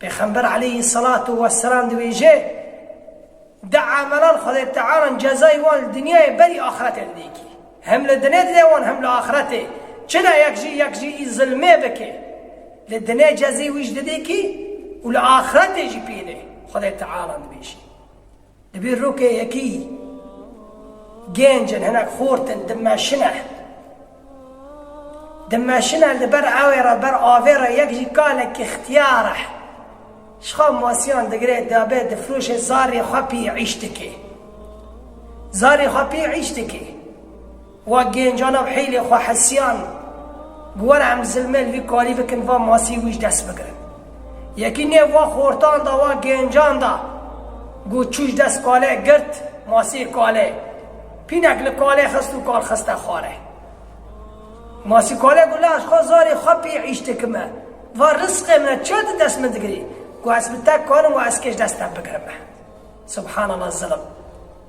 Pêxember aleyhî selat û weselam dibêje, Di emelan Xwedê Teala cezayê wan li dinyayê berî axretê li dêkî. Hem li dinê dide wan hem li axretê. Çila yek jî yek jî î zilmê bike, li dinê cezê wî ji didêkî û li axretê jî pêlê Xwedê Teala dibêje. Divê rokê yekî gêncin hinek xortin dimeşine. Dimeşine li ber ewê re ber avê re yek jî kalekî xtiyar e. Şixa masiyan digire diabe difiroşe zarê xwe pî îş dike. Zarê xwe pî îş dike. Wa gêncana bi hîlê xwe hesiyan bi were em zilmê li vî karî bikin va masî wî ji dest bigirin. Yekî nêv va xortan da wa gêncan da got çû ji dest kalê girt masî kalê pînek li kalê xist û kal xiste xware. Masî kalê got lê ez xwe zarê xwe pê îş dikim e. Va risqê min e çiya di dest min digirî. Got ez bi te karim wa eskê ji dest te bigirim e. Subhanallah zilm.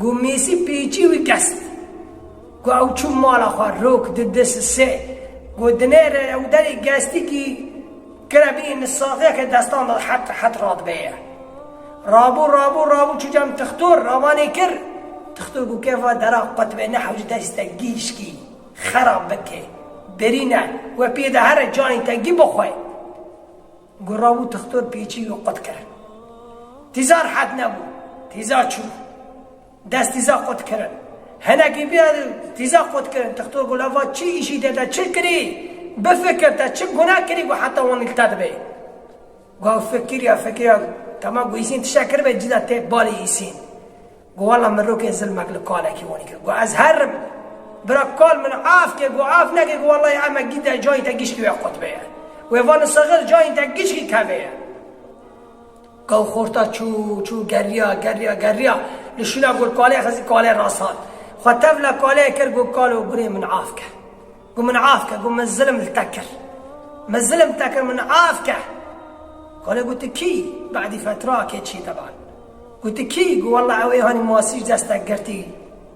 Ku Mêsî pêçî wî kest. Ku ew çû mala xwe rok di di sisê. Ku dinê re ew derê gestikî kire bî êni saxê ke destan de het het radibeye. Rabû rabû rabû çû cem tixtor ravanê kir. Tixtor ku kê va dera qutibê ne hewce destî te gîşkî xera bike. Birîne we pê de here canê te gî bixwe. Guravû tixtor pêçî û qut kirin. Tîza rihet nebû. Tîza çû. Dest tîza qut kirin. Hinekî bîya tîza qut kirin. Tixtor gula va çi îşî te de çi kirî? Bifikir te çi guna kirî ku heta wan li te dibê? Gu ew fikiriya fikiriya tema gu Îsîn tiştek kiribe cida têk balê Îsîn. Got wela min rokê zilmek li kalekî wanî kir. Got ez her im. Bira kal min af ke got af neke got wela ya emek dîte cayên te gişkî wê qutbê ye. Wê va li Sixir cayên te gişkî kevê ye. Gaw xorta çû çû geriya geriya geriya li şûna got kalê xizî kalê rast hat. Xwe tevla kalê kir got kalo gurê min af ke. Ku min af ke, ku min zilm li te kir. Min zilm li te kir, min af ke. Kolê got, Tu kî? Bedî fetrakê çî teban. Got, Tu kî? Got, Wela ew ê hanî masî ji dest te girtî.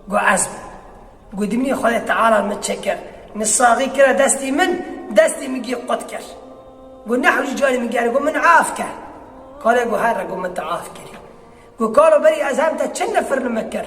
Got, Ez bûm. Got, Dimî Xwedê Teala min çi kir? Min saxî kire destî min, destê min gî qut kir. Got, Nehewcî carî min gere. Got, Min af ke. Kolê got, Herre got min te af kirî. Got, Kalo berî ez hem te çi nifir nimik kir?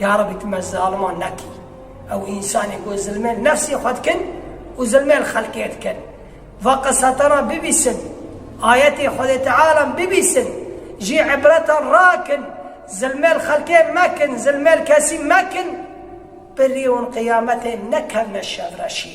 Yarebî tu me zaliman nekî. Ew însanên ku zilmên nefsê xwe dikin û zilmên xelkê dikin. Va qiseteran bibîsin, ayetên Xwedê Tealan bibîsin, jî îbretan rakin, zilmên xelkê mekin, zilmên kesî mekin, bi rî hûn qiyametê nekevne şevreşî.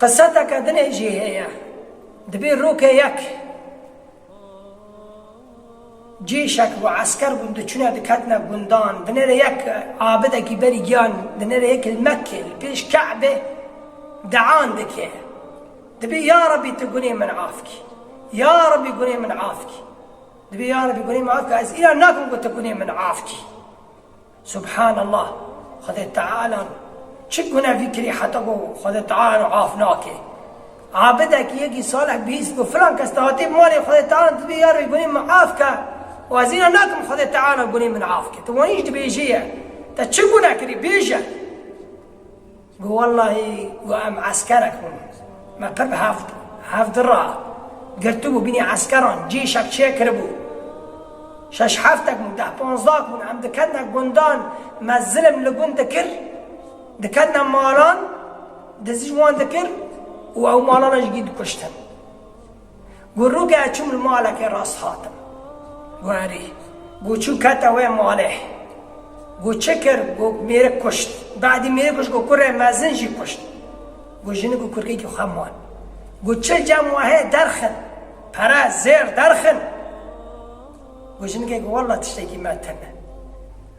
Qisateke dinê jî heye. Dibê roke yek cêşek û esker bûn diçûne diketine gundan, dinere yek abidekî berî giyan dinere yek li Mekkê li pêş Ke'bê dean dike. Dibê ya Rebî tu gunê min af kî. Ya Rebî gunê min af kî. Dibê ya Rebî gunê min af kî ez înan nakim ku tu gunê min af kî. Subhan Allah! Xwedê Teala çi gunevî kirî heta ku Xwedê Teala af nake. Abidekî yekî salih bihîst ku filan kes dihatê malê Xwedê Teala dibê ya rê gunê min af ke û ez înan nakim Xwedê Teala gunê min af ke. Tu wanî jî dibêjî ye te çi gune kirî bêje. Got wellahî got em eskerek bûn me pir hevd hevd ra girtibû binî eskeran cîşek çê kiribû şeş heftek bûn deh panzdak bûn em diketne gundan me zilim li gund dikir diketne malan dizî ji wan dikir û ew malan jî dikuştin. Ku rûgeh çûm li malekê rast hatim. Ku herî. Ku çû kete wê malê. Ku çi kir? Ku mêrik kuşt. Badî mêrik kuşt ku kurê mezin jî kuşt. Ku jinik û kurkekî xwe man. Ku çil cem wehê derxin. Pere, zêr derxin. Ku jinikek walla tiştekî me tune.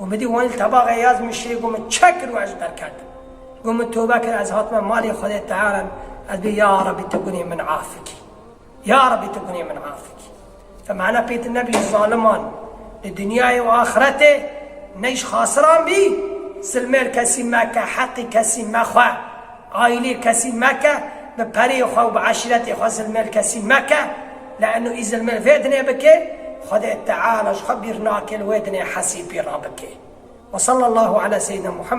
û bidî wan li tebaxê yaz min şê got min çek kir û ez derket. Got min tobe kir ez hatime malê Xwedê tearan ez bê ya Rebî tu gunê min afikî. Ya Rebî tu gunê min afikî. Te mane pê tu nebî ji zaliman li dinyayê û axretê ne ji xasiran bî zilmêr kesî meke heqî kesî mexwe. Aîlê kesî meke, bi pereyê xwe û bi eşîretê xwe zilmêl kesî meke, le'nû î zilmêl vê dinê bikê, Xwedê Teala ji xwe bîr nake li wê dinê hesî pî re bikê. Wesallallahu ala seyyidina Muhammed.